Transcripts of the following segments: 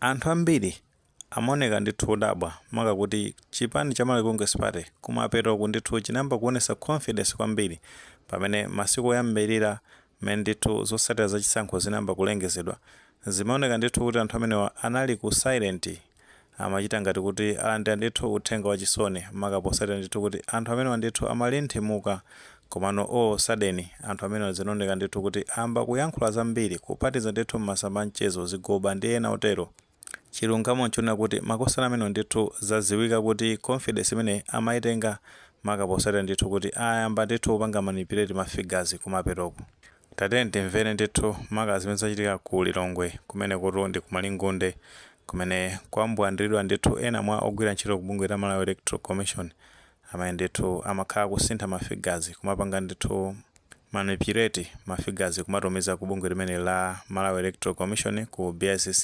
Anthu ambiri amaoneka ndithu odabwa maka kuti chipani cha Malawi Congress Party kumapeto ku ndithu chinayamba kuonesa confidence kwambiri pamene masiku oyambilira mmene ndithu zotsatira za chisankho zinayamba kulengezedwa zimaoneka ndithu kuti anthu amenewa anali ku silent Amachita ngati kuti alandira ndithu uthenga wachisoni, maka potsatira ndithu kuti anthu amenewa ndithu amali nthimuka. Komano all of a sudden, anthu amenewa zinaoneka ndithu kuti ayamba kuyankhula zambiri, kuphatiza ndithu m'masamba a mchezo, zigoba ndi ena otero. Chilungamo nchonena kuti makosana amenewa ndithu zadziwika kuti confidence imeneyi amaitenga maka potsatira ndithu kuti ayamba ndithu kupanga manipulate ma figures kumapetoku. Tatiyeni timvere ndithu maka zimene zachitika ku Lilongwe kumene kutu ndi ku Malingunde kumene kwambwandilidwa ndithu ena mwa ogwira ntchito ku bungwe la Malawi Electoral Commission amene ndithu amakhala akusintha ma figures kumapanga ndithu manipulate ma figures kumatumiza ku bungwe limeneli la Malawi Electoral Commission ku BICC.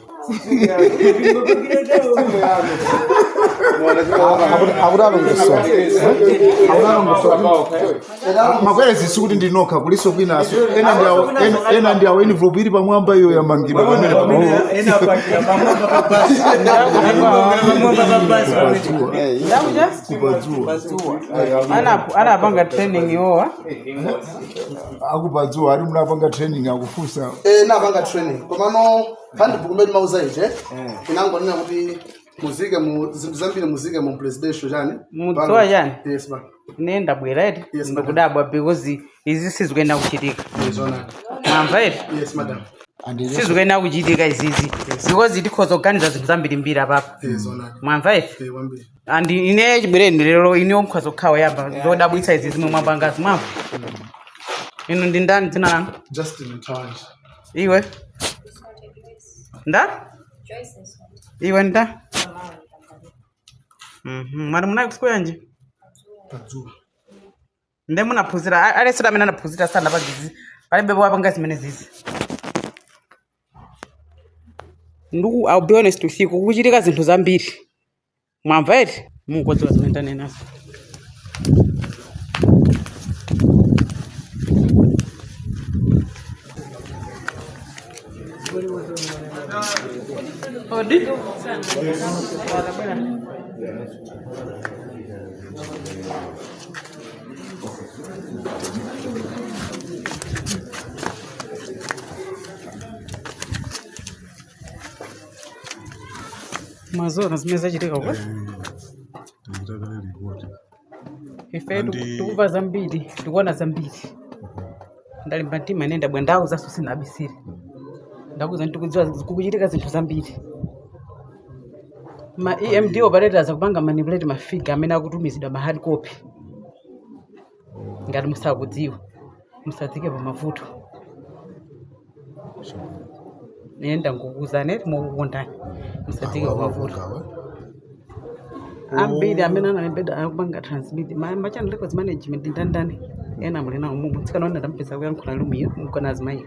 ma queries sikuti ndi inu nokha kuliso kwinaso ena ndi awo envelopu ili pamwamba iyo yamangidwa pamenepa. Anapanga training iwowa a ku Padzuwa ati munapanga training akufunsa Eh, napanga training komano handbook mmene amauza ija inangonena kuti muzike mu zinthu zambiri muzike mu presidential chani Mudziwa Pano. chani? yes basi ine ndabwera eti Yes, madam. ndikudabwa because izi sizikuyenera kuchitika mwamva eti yes madam sizikuyenera kuchitika izizi because tikhoza kuganiza zinthu zambirimbiri apapo mwamva eti and ine chibwereni lero inu nokhanokha oyamba zodabwitsa izi zimene mwapangazi mwamva inu ndi ndani dzina lanu Justin Mtawanja. iwe nde iwe nde Mhm, mwati munali ku sukulu yanji Padzuwa. nde munaphunzira a- aliyense amene anaphunzira sanapange zizi palibe wapanga zimenezizi ndiku i'll be honest with you kuchitika zinthu zambiri mwamva eti mungodziwa zimene ndanenazo Odi. mwaziwa zimene zachitika uko ife Andi- tikuva zambiri tikuona zambiri ndalimba mtima ine ndabwera ndawuzanso sinabisire ndakuza ndikudziwa kuti kukuchitika zinthu zambiri ma emd operators akupanga manipulate mafiga amene akutumizidwa mu hard copy ngati musakudziwa musadzike pa mavuto ine ndakuuzani eti mokukondani musadzike pa mavuto ambiri amene analembedwa akupanga transmit ma- machannel records management ndi ndani ena muli nawo mumu tsikana wina tampeza kuyankhula lumiyo mukona azimayi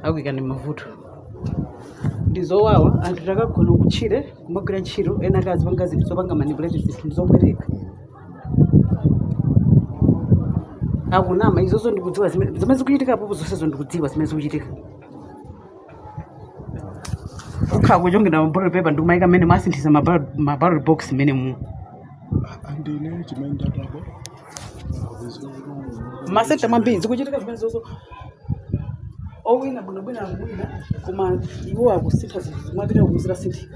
akuyikani m' mavuto ndi zowawa anthu takagone kutchire kumagwira ntchito ena akazipanga zinthu zopanga manipulate zinthu zobereka akunama izozo ndikudziwa zime- zimene zikuchitika apopo zonsezo ndikudziwa zimene zikuchitika ukhala kuchongera mabottle paper ndikumayika mmene amasinthitsa mabottle box mmene mu andine chimene ndatapo m'masenta mwambiri zikuchitika zimenezozo owina bwinobwina akuwina koma iwo akusintha zinthu mwapita kuzira sinthika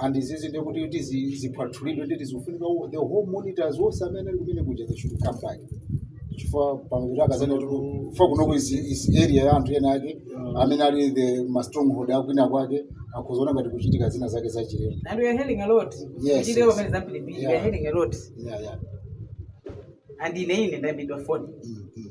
and izizi ndiye kuti kuti zi- ziphwasulidwe ndi zikufunika wo- the whole monitors onse amene ali kumene kuja they should come back chifukwa pamapita akanenanso kuti kufa kunoko izi izi area ya anthu ena ake amene ali ma stronghold akwina kwake akuziona ngati kuchitika zina zake za chilendo And we are hearing a lot. Yes, Chideo yes. pamene zampilipili, we are Yeah. hearing a lot. yeah, yeah. And ine ine ndaimbidwa phone. Mm, mm.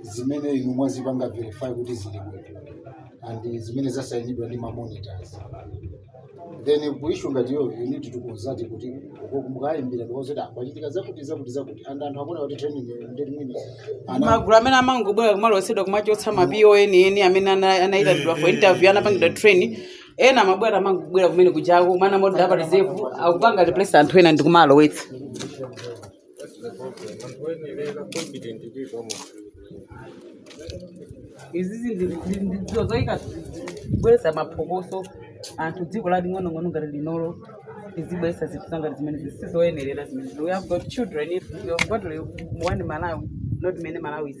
zimene inu mwazipanga verify kuti zili bwino and zimene zasayinidwa ndi mamonitors then ku issue ngati iyo you need to consult kuti uko mukayimbira because kuti apa pachitika zakuti zakuti zakuti and anthu akuona kuti training yo ndi mwini ana magulu amene amangobwera kumalowetsedwa kumachotsa ma POA eni amene ana- anayitanidwa for interview anapangidwa train ena amabwera amangobwera kumene kujako amene ama order apa reserve akupanga replace anthu ena ndi kumalowetsa izizi ndizo zoyika kubweretsa maphokoso anthu dziko la ling'onong'ono ngati linolo lizibweretsa zinthu zangati zimenezi sizoyenerera zimene we have got children we have got one malawi not many malawis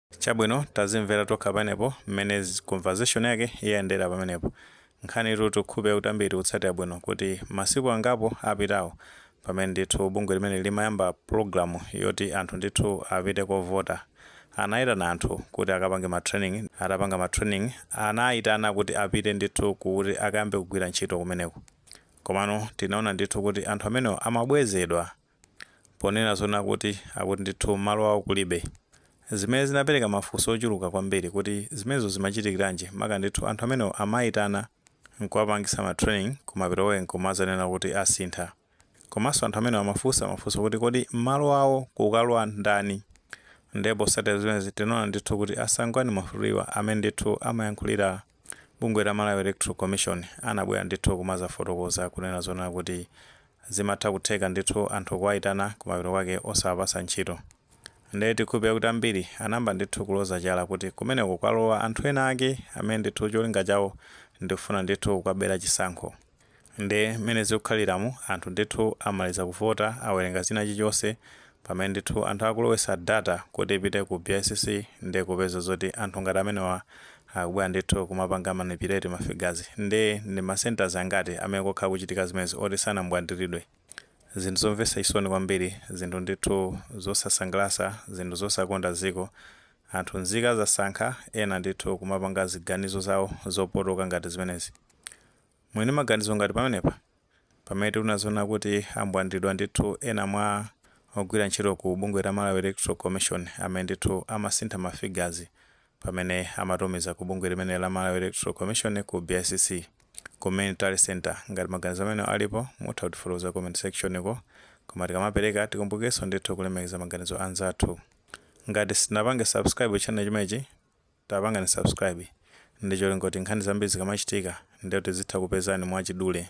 Chabwino, tazimvera tokha pamenepo, mmene conversation yake yayendera pamenepo. Nkhanitu ndikhulupe yakuti ambiri tikutsatira bwino, kuti masiku angapo apitawo, pamene ndithu bungwe limene limayamba pulogalamu yoti anthu ndithu apite kovota, anaitana anthu kuti akapange ma training, atapanga ma training, anaitana kuti apite ndithu kuti akayambe kugwira ntchito kumeneko. Komano tinaona ndithu kuti anthu amenewo amabwezedwa. Ponena zoona kuti akuti ndithu malo awo kulibe. Zimene zinapereka mafunso ochuluka kwambiri kuti zimenezo zimachitikiranji maka ndithu anthu amenewo amaitana nkuwapangitsa ma training kumapeto ake nkumadzanena kuti asintha. Komanso anthu amenewo amafunsa mafunso kuti kodi malo awo kukalowa ndani? Ndiye potsatira zimenezi tinaona ndithu kuti a Sangwani Mwafulirwa amene ndithu amayankhulira bungwe la Malawi Electoral Commission anabwera ndithu kumazafotokoza kunena zoona kuti zimatha kutheka ndithu anthu kuwaitana kumapeto kwake osawapasa ntchito nde tikhulupira kuti ambiri anayamba ndithu kuloza chala kuti kumeneko kwalowa anthu ena ake amene ndithu cholinga chawo ndikufuna ndithu kukabera chisankho Nde mmene zikukhaliramu anthu ndithu amaliza kuvota awerenga china chilichonse pamene ndithu anthu akulowesa data kuti ipite ku bicc nde kupeza zoti anthu ngati amenewa akubwera ndithu kumapanga manipulate ma figures nde ndi ma centres angati amene kwakhala kukuchitika zimenezi oti sanambwandilidwe. Zinthu zomvesa chisoni kwambiri zinthu ndithu zosasangalasa zinthu zosakonda ziko anthu nzika zasankha ena ndithu kumapanga ziganizo zawo zopotoka ngati zimenezi. Muli ndi maganizo anji pamenepa? Pamene tikunena zoona kuti ambwandilidwa ndithu ena mwa ogwira ntchito ku bungwe la Malawi Electoral Commission amene ndithu amasintha ma figures pamene amatumiza ku bungwe limeneli la Malawi Electoral Commission ku BICC ku main tally centre ngati maganizo amenewo alipo mutha kutifotokoza comment section ko koma tikamapereka tikumbukirenso ndithu kulemekeza maganizo anzathu ngati simunapange subscribe channel chimenechi Tapangani subscribe ndicholinga choti nkhani zambiri zikamachitika ndiyoti zizitha kukupezani mwachidule.